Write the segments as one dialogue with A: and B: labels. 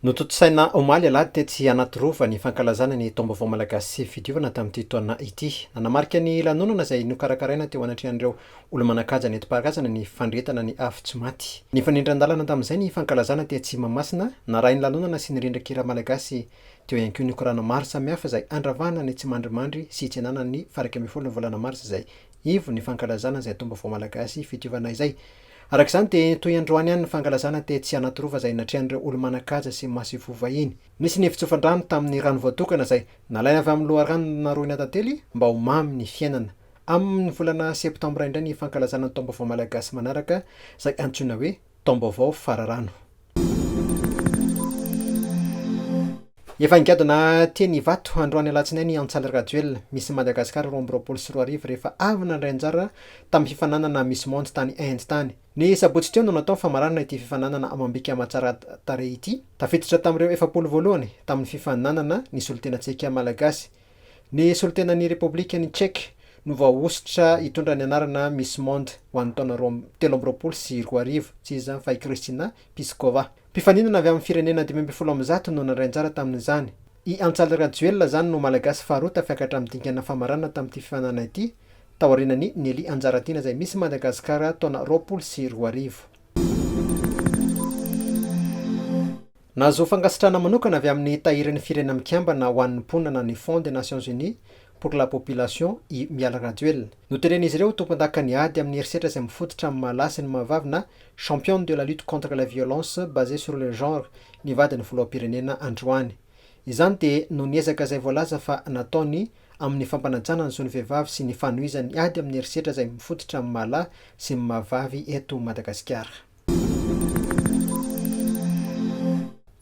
A: Notontosaina omaly alahady tetsy Anatirova ny fankalazana ny Taom-baovao Malagasy sy Fidiovana tamin'ity taona ity. Nanamarika ny lanonana izay nokarakaraina teo anatrehan'ireo olo-manan-kaja nentim-paharazana ny fandrehetana ny afo tsy maty. Nifanindran-dalana tamin'izay ny fankalazana tetsy Mahamasina, narahin'ny lanonana sy ny rindran-kira malagasy. Teo ihany koa ny korana maro samihafa izay andravahana ny tsimandrimandry sy hitsenana ny farak'ambin'ny folo ny volana marsa izay ivon'ny fankalazana izay Taom-baovao Malagasy Fidiovana izay. Araka izany dia toy androany ihany ny fankalazana tetsy Anatirova izay natrehan'ireo olo-manan-kaja sy masivoho vahiny. Nisy ny fitsofan-drano tamin'ny rano voatokana izay nalaina avy amin'ny loharano naroina tantely mba ho mamy ny fiainana. Amin'ny volana septambra indray ny fankalazana ny taom-baovao malagasy manaraka izay antsoina hoe taom-baovao fararano. Efa nigadona teny Ivato, androany alatsinainy, Antsaly Rajoelina, Miss Madagascar roa amby roapolo sy roa arivo rehefa avy nandray anjara tamin'ny fifaninanana Miss Monde tany Inde tany. Ny sabotsy teo no natao famaranana ity fifaninanana amam-bika aman-tsara-tarehy ity. Tafiditra tamin'ireo efapolo voalohany tamin'ny fifaninanana ny solotenantsika Malagasy, Ny solontenan'ny Repoblikan'i Czech no voahosotra hitondra ny anarana Miss Monde ho an'ny taona roa amby telo amby roapolo sy roa arivo. Tsy iza izany fa i Krystyna Pyskova. Mpifaninana avy amin'ny firenena dimy ambin'ny folo amin'ny zato no nandray anjara tamin'izany. I Antsaly Rajoelina izany no Malagasy faharoa tafiakatra amin'ny dingana famaranana tamin'ity fifaninanana ity, taorianan'i Nelly Anjaratiana izay Miss Madagascar taona roapolo sy roa arivo. Nahazoa fankasitrahana manokana avy amin'ny Tahirin'ny Firenena Mikambana ho an'ny Mponina ny Fonds des Nations Unies pour la Population i Mialy Rajoelina. Noteren'izy ireo ho tompondakan'ny ady amin'ny herisetra izay mifototra amin'ny maha lahy sy ny maha vavy na Championne de la lutte contre les violences basées sur le genre ny vadin'ny Filoham-pirenena androany. Izany dia noho ny ezaka izay voalaza fa nataony amin'ny fampanajana ny zon'ny vehivavy sy ny fanohizan'ny ady amin'ny herisetra izay mifototra amin'ny maha lahy sy ny maha vavy eto Madagasikara.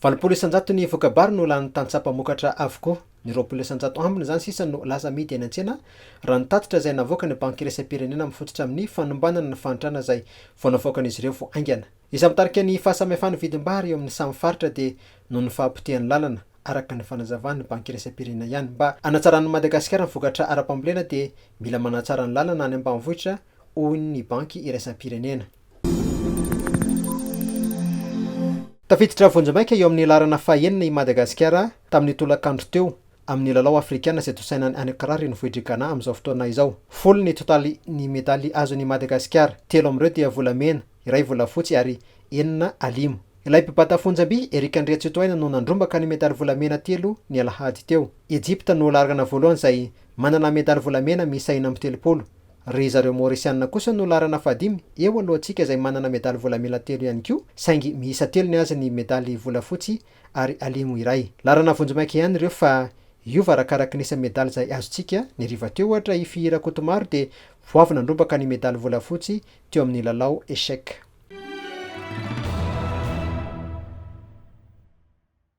A: Valopolo isan-jato ny voka-bary no lanin'ny tantsaha mpamokatra avokoa. Ny roapolo isan-jato ambiny izany sisa no lasa amidy eny an-tsena, raha ny tatitra izay navoakan'ny Banky iraisam-pirenena mifototra amin'ny fanombanana ny fahantrana izay vao navoakan'izy ireo vao haingana. Izay mitarika ny fahasamihafan'ny vidim-bary eo amin'ny samy faritra dia noho ny fahapotehan'ny lalana, araka ny fanazavan'ny Banky iraisam-pirenena ihany. Mba hanatsaran'i Madagasikara ny vokatra ara-pambolena dia mila manatsara ny lalana any ambanivohitra, hoy ny Banky iraisam-pirenena. Tafiditra vonjimaika eo amin'ny laharana fahenina i Madagasikara tamin'ny tolakandro teo amin'ny lalao afrikana izay tosaina any Accra renivohitr'i Ghana amin'izao fotoana izao. Folo ny totalin'ny medaly azon'i Madagasikara, telo amin'ireo dia volamena, iray volafotsy ary enina alimo. Ilay mpibata fonjam-by, Eric Andriatsitohaina no nandrombaka ny medaly volamena telo ny alahady teo. Egypte no lahargana voalohany izay manana medaly volamena miisa enina amby telopolo. Ry zareo Maorisianina kosa no laharana fahadimy eo alohantsika izay manana medaly volamena telo ihany koa saingy miisa telo ny azy ny medaly volafotsy ary alimo iray. Laharana vonjimaika ihany ireo fa hiova arakaraky ny isa-medaly izay azontsika, ny hariva teo ohatra i Fihira Kotomaro dia vao avy nandrombaka ny medaly volafotsy teo amin'ny lalao Echec.